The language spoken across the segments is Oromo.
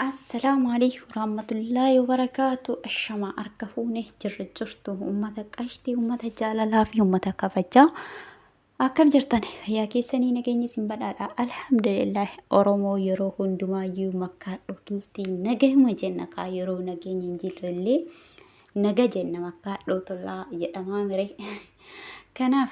Assalaamu alaikum warahmatullaahi wabarakaatu. Ashama harka fuune jirra jirtu uummata qashtii, uummata jaalalaa fi uummata kabajaa. Akkam jirtan fayyaa keessanii nageenya isin badhaadha. Alhamdulillah Oromoo yeroo hundumaayyuu makkaa dhootuutti nagahuma jenna kaa yeroo nageenya hin jirrellee naga jenna makkaa dhootulaa jedhamaa mire. Kanaaf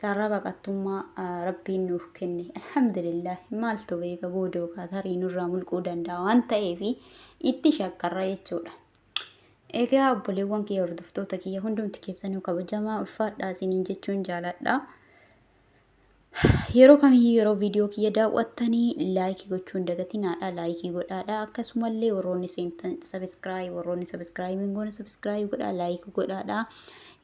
Carraa baqattummaa Rabbiin nuuf kenne. Alhamdulillah maaltu beeka booda yookaan tarii nurraa mulquu danda'a waan ta'eef itti shakkarra jechuudha. Egaa obboleewwan kiyya hordoftoota kiyya hundumti keessanuu kabajamaa ulfaadhaa isiniin jechuun jaaladha. Yeroo kamiyyuu yeroo viidiyoo kiyya daawwattanii laayikii gochuun dagatinaadha laayikii godhaadha akkasumallee warroonni seentan sabiskiraayib warroonni sabiskiraayib hin goone sabiskiraayib godhaa laayikii godhaadha.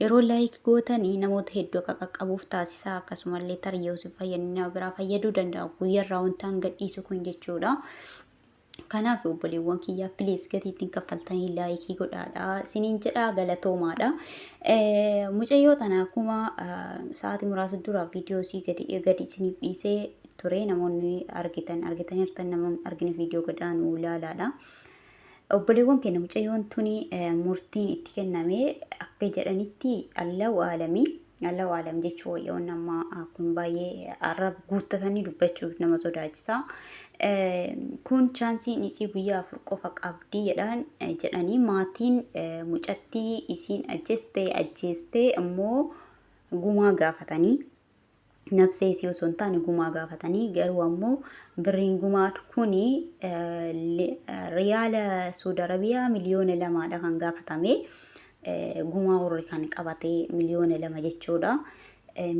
Yeroo like gootanii namoota hedduu akka qaqqabuuf taasisaa akkasumallee tarii yoo isin fayyadne nama biraa fayyaduu danda'a guyyarraa wantaan gadhiisu kun jechuudha. Kanaaf obboleewwan kiyyaa please gatii ittiin kaffaltanii laayikii godhaadha isiniin jedha galatoomaadha. Mucayyoo tana akkuma sa'aatii muraasa dura viidiyoo isii gadi gadi isiniif dhiisee ture namoonni argitan argitaniirtan namoonni argine viidiyoo gadaan ilaalaadha. Obboleewwan keenya mucayyoon tuni murtiin itti kenname akka jedhanitti allahu aalami allahu aalam jechuu wayya wanni amma kun baay'ee arrab guuttatanii dubbachuuf nama sodaachisa. Kun chaansiin isii guyyaa afur qofa qabdi jedhan jedhanii maatiin mucattii isiin ajjeeste ajjeestee immoo gumaa gaafatanii nabsee isii osoo hin taane gumaa gaafatanii garuu ammoo birriin gumaa kuni riyaala Suudi Arabiyaa miliyoona lamaadha kan gaafatame gumaa warri kan qabate miliyoona lama jechuudha.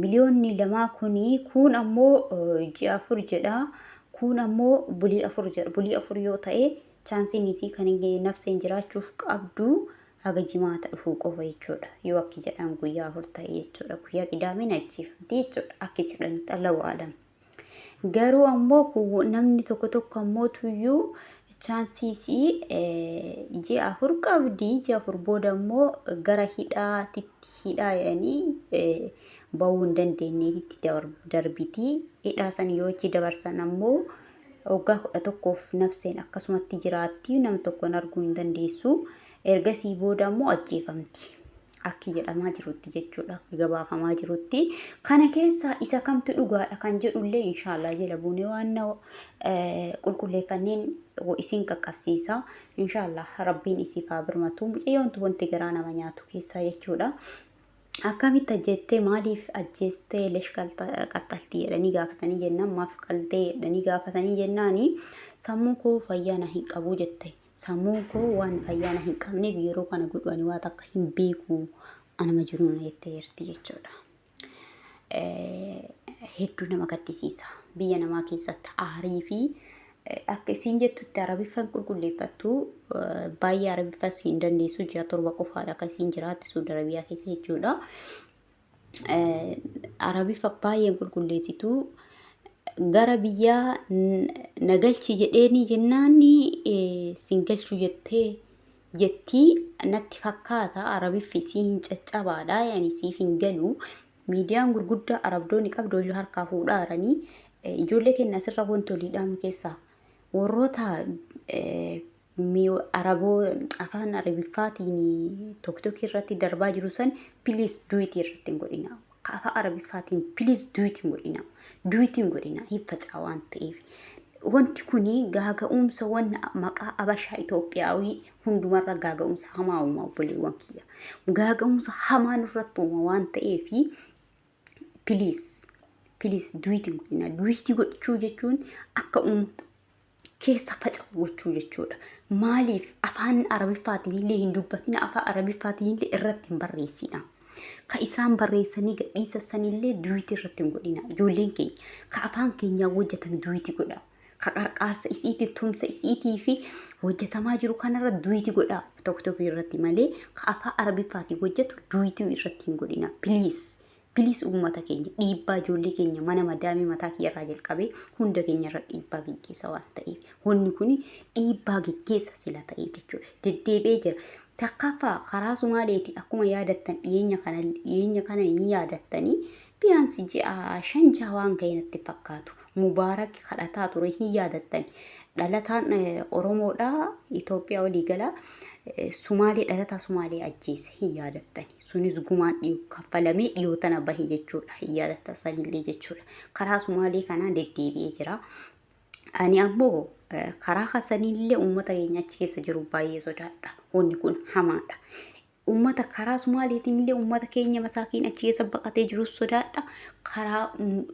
Miliyoonni lamaa kuni kuun ammoo ji'a afur jedha kuun ammoo bulii afur jedha bulii afur yoo ta'e chaansiin isii kan nabseen jiraachuuf qabdu haga jimaata dhufuu qofa jechuudha yoo akki jedhan guyyaa afur ta'e jechuudha guyyaa qidaameen ajjeefamti jechuudha akki jedhanitti allahu aalam garuu ammoo kun namni tokko tokko ammoo tuyyuu chaansiisii ji'a afur qabdi ji'a afur booda ammoo gara hidhaatitti hidhaa jedhanii ba'uu hin dandeenyeetitti darbitii hidhaa san yoo itti dabarsan ammoo Waggaa 11f Nabseen akkasumatti jiraatti, nam tokkoon arguu hin dandeessu. Ergasii booda ammoo ajjeefamti. Akki jedhamaa jirutti jechuudha, akki gabaafamaa jirutti. Kana keessaa isa kamtu dhugaadha kan jedhullee inshaallah jala buunee waan na qulqulleeffanneen isin qaqqabsiisa. Inshaallah rabbiin isiif haa birmatu. Mucayyoontu wanti garaa nama nyaatu keessaa jechuudha. akkamitti ajjeettee maaliif ajjeestee lesh qaxxaltii jedhanii gaafatanii jennaan maaf qaltee jedhanii gaafatanii jennaani sammuu koo fayyaa na hin qabu jette sammuun koo waan fayyaa na hin qabneef yeroo kana godhu ani waan akka hin beeku anuma jiru na jettee jirti jechuudha. Hedduu nama gaddisiisa biyya namaa keessatti aarii fi akka isiin jettutti arabiffan qulqulleeffattu baay'ee arabiffas hin dandeessu ji'a torba qofaadha akka isiin jiraatte suud arabiyaa keessa jechuudha. Arabiffa baay'een qulqulleessitu gara biyyaa nagalchi jedheeni jennaani sin galchu jettee jettii natti fakkaata arabiffi isii hin caccabaadha yani siif hin galu Miidiyaan gurguddaa arabdoonni qabdoolii harkaa fuudhaa jiranii ijoollee keenya asirra wanti olii dhaamu keessaa warroota araboo afaan arabiffaatiin tokkokkii irratti darbaa jiru san piliis duwitii irratti hin godhina. Afaan arabiffaatiin piliis duwitii hin godhina. Duwitii hin godhina hin facaa waan ta'eef. Wanti kuni gaaga'umsa wanna maqaa abashaa Itoophiyaawii hundumarra gaaga'umsa hamaa uuma obboleewwan kiyya. Gaaga'umsa hamaa nurratti uuma waan ta'eef piliis piliis duwiti hin godhina. Duwiti gochuu jechuun akka uuma keessa faca'u gochuu jechuudha. Maaliif afaan arabiffaatiin illee hin dubbatina afaan arabiffaatiin illee irratti hin barreessina. Ka isaan barreessanii gadhiisa sanillee duwiti irratti hin godhina. Ijoolleen keenya ka afaan keenyaa hojjetame duwiti godha. ka qarqaarsa isiitiin tumsa isiitii fi hojjetamaa jiru kanarra duwiti godhaa tokkotookii irratti malee ka afaa arabiffaatiin hojjetu duwitii irratti hin godhina piliis piliis uummata keenya dhiibbaa ijoollee keenya mana madaamii mataa kiyyarraa jalqabee hunda keenyarra dhiibbaa geggeessa waan ta'eef honni kun dhiibbaa geggeessa sila ta'eef jechuudha deddeebi'ee jira. Takkaffaa karaa Sumaaleeti akkuma yaadattan dhiyeenya kana dhiyeenya kana hin yaadattanii Biyaansi ji'a shan jaha waan ga'e natti hin fakkaatu. Mubaarak kadhataa ture hin yaadattani. Dhalataan Oromoodha Itoophiyaa olii gala. Sumaalee dhalataa Sumaalee ajjeese hin yaadattani. Sunis gumaan dhiyoo kaffalamee dhiyoo tana bahe jechuudha. Hin yaadatta sanillee jechuudha. Karaa Sumaalee kanaan deddeebi'ee jira. Ani ammoo karaa kasanillee uummata keenya achi keessa jiru baay'ee sodaadha. Wanni kun hamaadha. Ummata karaa Sumaaleetiin illee ummata keenya masaakiin achi keessa baqatee jirus sodaadha. Karaa mm,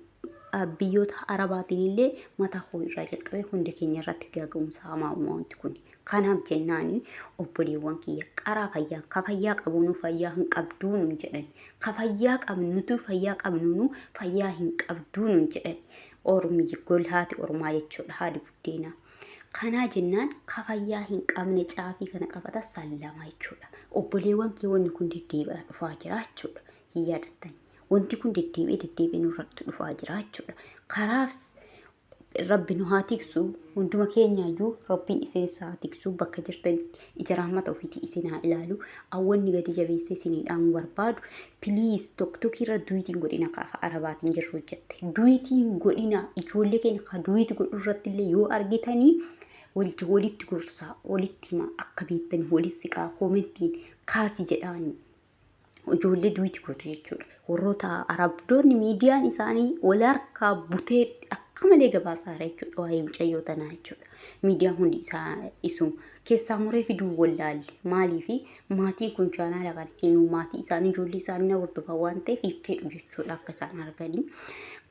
ah, biyyoota Arabaatiin illee mataa koo irraa jalqabee hunda keenya irratti gaaga'umsa hamaa uuma wanti kun. Kanaaf jennaani obboleewwan kiyya qaraa fayyaa ka fayyaa qabuunu fayyaa hin qabduu nun jedhan. Ka fayyaa qabnutu fayyaa qabnuunu fayyaa hin qabduu nun jedhan. Ormi golhaati ormaa jechuudha haadi buddeenaa. Kanaa jennaan ka fayyaa hin qabne caafii kana qabata sallama jechuudha. Obboleewwan kee wanni kun deddeebi'aa dhufaa jira jechuudha. Hin yaadattan. Wanti kun deddeebi'ee deddeebi'ee nurratti dhufaa jira jechuudha. Karaaf rabbi nu haa tiksu hunduma keenyaayyuu rabbiin iseenis haa tiksu bakka jirtanitti ija rahmata ofiitii isin haa ilaalu awwanni gadi jabeessee isinii dhaamu barbaadu please tokko tokko irra duwitiin godhina kaafa arabaatiin jirru hojjette duwitiin godhina ijoollee keenya ka duwiiti godhu irratti illee yoo argitanii walitti walitti gorsaa walitti himaa akka beektanii walitti siqaa koomentiin kaasi jedhaanii ijoollee duwiti gootu jechuudha. Warroota arabdoonni miidiyaan isaanii wal harkaa butee akka malee gabaasaa jira jechuudha. Waa'ee mucayyoo tanaa jechuudha. Miidiyaan hundi isaa isuma. Keessaa muree fiduu wallaalle. Maaliif maatiin kun chaanaala kana hin maatii isaanii ijoollee isaanii na hordofaa waan ta'eef hin fedhu jechuudha akka isaan arganii.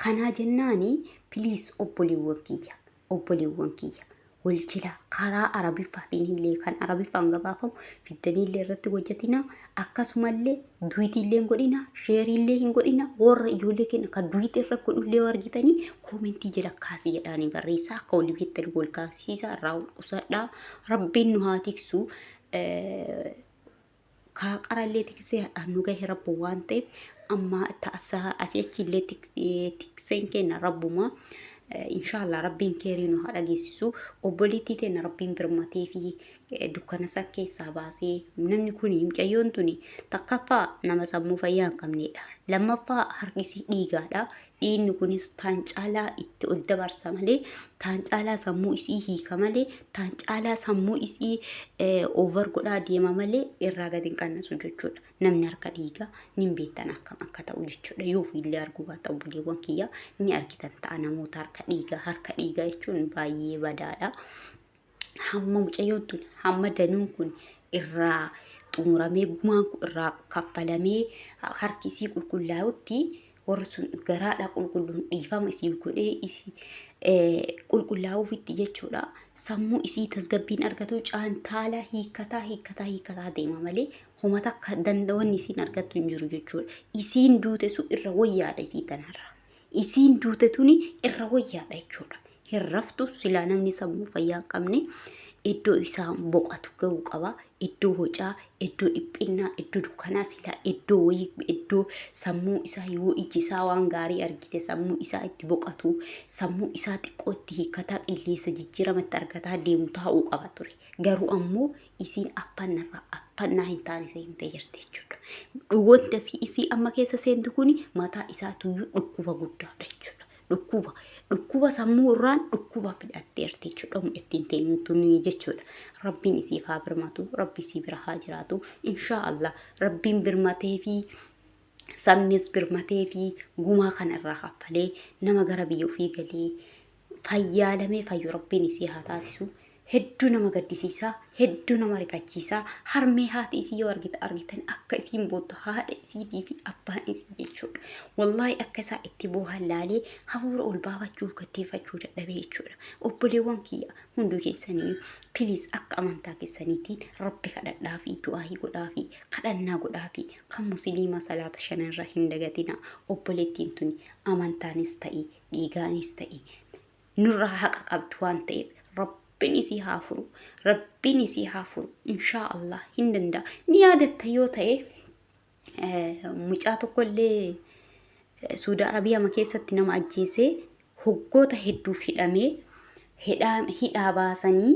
Kanaa jennaani piliis obboleewwan kiyya. obboleewwan kiyya wal jila karaa arabiffaatiin illee kan arabiffaan gabaafamu fiddanii illee irratti hojjetina akkasumallee duwitii illee hin godhina sheerii illee hin godhina warra ijoollee keenya kan duwitii irra godhu illee argitanii koomentii jala kaasii jedhaanii barreessaa akka walii beektan wal kaasiisa irraa wal qusadhaa rabbiin nu haa tiksu. kaa qarallee tiksee hadhaan nu gahe rabbu waan ta'eef amma ta'asaa asii achi illee tikseen kenna rabbuma inshaallah rabbiin keerii nu haa dhageessisu obboleettii teenna rabbiin birmatee fi dukkana san keessaa baasee namni kun mucayyoon tuni takkaffaa nama sammuu fayyaa hin qabneedha lammaffaa harkisii dhiigaadha dhiinni kunis taan caalaa itti ol dabarsa malee taan caalaa sammuu isii hiika malee taan caalaa sammuu isii over godhaa deema malee irraa gad hin qannasu jechuudha namni harka dhiigaa nin beektan akkam akka ta'u jechuudha yoo ofiillee arguu baata obboleewwan kiyyaa ni argitan ta'a namoota harka dhiigaa harka dhiigaa jechuun baay'ee badaadha. hamma mucayyoon tun hamma danuun kun irraa xumuramee gumaan kun irraa kaffalamee harki isii qulqullaa'utti warri sun garaadha qulqulluun dhiifama isiif godhee isii qulqullaa'uufitti jechuudha. Sammuu isii tasgabbiin argatu caantaala hiikkataa hiikkataa hiikkataa deema malee homa takka danda'oonni isiin argattu hin jiru jechuudha. Isiin duute sun irra wayyaadha isii tanarra. isiin duute tuni irra wayyaadha jechuudha. Hin raftu silaa namni sammuu fayyaa hin qabne iddoo isaa boqatu ga'uu qaba. Iddoo hocaa, iddoo dhiphinnaa, iddoo dukkanaa silaa iddoo wayii iddoo sammuu isaa yoo iji isaa waan gaarii argite sammuu isaa itti boqatu sammuu isaa xiqqoo itti hiikataa qilleensa jijjiirama itti argataa deemu taa'uu qaba ture. Garuu ammoo isiin affanna irraa affannaa hin taane seentee jirti jechuudha. Wanti asii isii amma keessa seentu kuni mataa isaatuyyuu dhukkuba guddaadha jechuudha. Dhukkuba dhukkuba sammuu irraan dhukkuba fidhatteerti jechuudha. Humna ittiin teenyutu nuyi jechuudha. Rabbiin isiif haa birmatu, rabbi isii bira haa jiraatu. Inshaa Allah rabbiin birmatee fi sabnis birmatee fi gumaa kana irraa kaffalee nama gara biyya ofii galee fayyaalamee fayyu rabbiin isii haa taasisu hedduu nama gaddisiisaa hedduu nama rifachiisaa harmee haati isii yoo argita argitan akka isiin boottu haadha isiitii fi abbaan isii jechuudha wallaahi akka isaa itti boohan laalee hafuura ol baafachuuf gaddeeffachuu dadhabee jechuudha obboleewwan kiyya hunduu keessanii piliis akka amantaa keessaniitiin rabbi kadhadhaa fi du'aahii godhaa fi kadhannaa godhaa fi kan musiliima salaata shanarra hin dagatina obboleettiin tuni amantaanis ta'e dhiigaanis ta'e nurraa haqa qabdu waan ta'eef rabbiin isii haa furu rabbiin isii haa furu inshaa allah hin danda'a ni yaadatta yoo ta'e mucaa tokkollee suudaa arabiyaama keessatti nama ajjeesee hoggoota hedduuf hidhamee hidhaa baasanii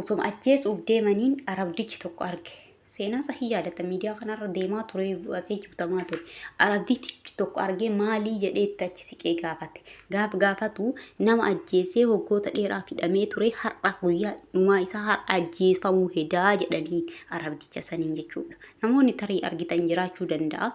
osoma ajjeesuuf deemaniin arabdichi tokko arge seenaa isaa hin yaadata miidiyaa kanarra deemaa ture asii jibtamaa ture arabdii tichi tokko argee maalii jedhee itti achi siqee gaafate gaaf gaafatu nama ajjeesee waggoota dheeraa hidhamee ture har'a guyyaa dhumaa isaa har'a ajjeefamuu hedaa jedhanii arabdicha saniin jechuudha namoonni tarii argitan jiraachuu danda'a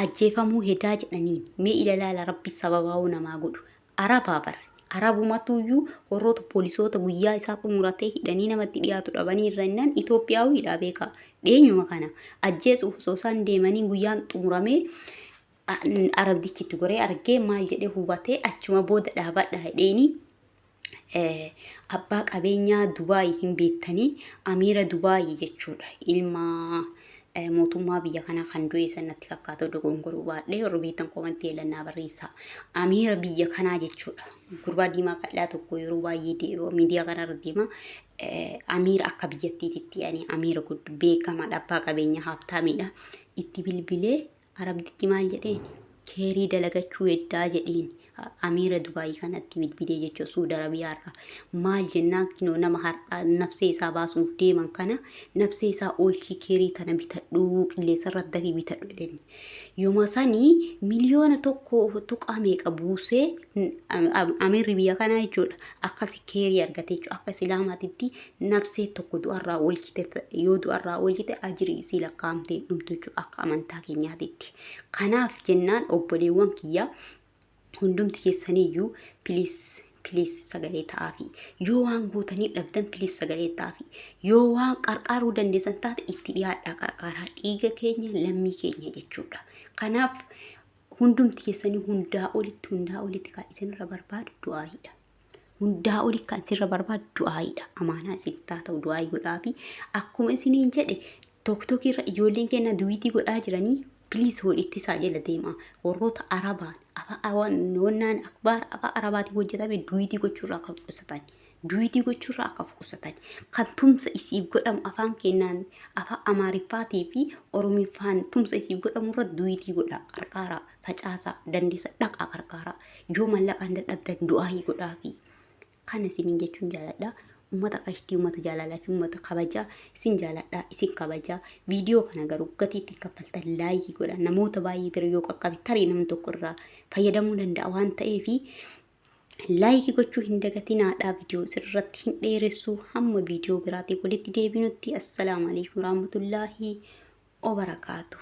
ajjeefamuu hedaa jedhaniin mee ilalaala rabbi sababaa'uu namaa godhu arabaa bara arabumatuyyuu warroota poolisoota guyyaa isaa xumuratee hidhanii namatti dhiyaatu dhabanii irra innaan Itoophiyaawidha beekaa dheenyuma kana ajjeesuuf osoo isaan deemanii guyyaan xumuramee arabdichitti goree argee maal jedhee hubatee achuma booda dhaabadha hidheenii abbaa qabeenyaa Dubaay hin beektanii amiira Dubaay jechuudha. Ilma mootummaa biyya kanaa kan du'e san natti fakkaatu dogongoruu baadhee warri beektan komantii eelannaa barreessaa. Amiira biyya kanaa jechuudha. Gurbaa diimaa qal'aa tokko yeroo baay'ee deema miidiyaa kanarra deema. Amiira akka biyyattiitti ani amiira beekamaadha abbaa qabeenyaa haabtaamiidha. Itti bilbilee Arabdichi maal jedheen? Keerii dalagachuu heddaa jedheen. Amiira Dubaayii kanatti bilbilee jechuudha Suud Arabiyaarraa. Maal jennaan kinoo nama har'aa nabsee isaa baasuuf deeman kana nabsee isaa oolchii keerii tana bitadhuu qilleensarra dafii bitadhu jedheen. Yooma sanii miliyoona tokko tuqaa meeqa buusee Amiirri biyya kanaa jechuudha akkasi keerii argate jechuudha akka Islaamaatitti nabsee tokko du'arraa oolchite yoo du'arraa oolchite ajiri isii lakkaa'amtee dhumtu jechuudha akka amantaa keenyaatitti. Kanaaf jennaan obboleewwan kiyya hundumti keessaniyyuu piliis piliis sagalee ta'aafi yoo waan gootanii dhabdan piliis sagalee ta'aafi yoo waan qarqaaruu dandeessan taate itti dhiyaadhaa qarqaaraa dhiiga keenya lammii keenya jechuudha. Kanaaf hundumti keessanii hundaa olitti hundaa olitti kan isinirra barbaadu du'aayiidha. hundaa oli kan sirra barbaadu du'aayiidha. Amaanaa isin taa ta'u du'aayi godhaafi akkuma isiniin jedhe tokkokkii irra ijoolleen keenya duwiitii godhaa jiranii piliis hoolitti isaa jala deema. Warroota Arabaan wannaan akbaar afaa Arabaatiin hojjetame duwiitii gochuurraa kan qusatan. Duwiitii gochuurraa kan qusatan. Kan tumsa isiif godhamu afaan keenyaan afaan Amaariffaatii fi Oromiffaan tumsa isiif godhamu irra duwiitii godhaa qarqaaraa. facaasaa dandeessa dhaqaa qarqaaraa yoo mallaqaan dadhabdan du'aayii godhaafi kana isiniin jechuun jaaladha ummata qashtii ummata jaalalaa fi ummata kabajaa isin jaaladha isin kabajaa viidiyoo kana garuu gatii ittiin kaffaltan laayii godha namoota baay'ee bira yoo qaqqabe tarii namni tokko irraa fayyadamuu danda'a waan ta'eef laayikii gochuu hin dagatinaadha viidiyoo sirratti hin dheeressu hamma viidiyoo biraatiif walitti deebinutti assalaamu alaikum warahmatullaahi wabarakaatuh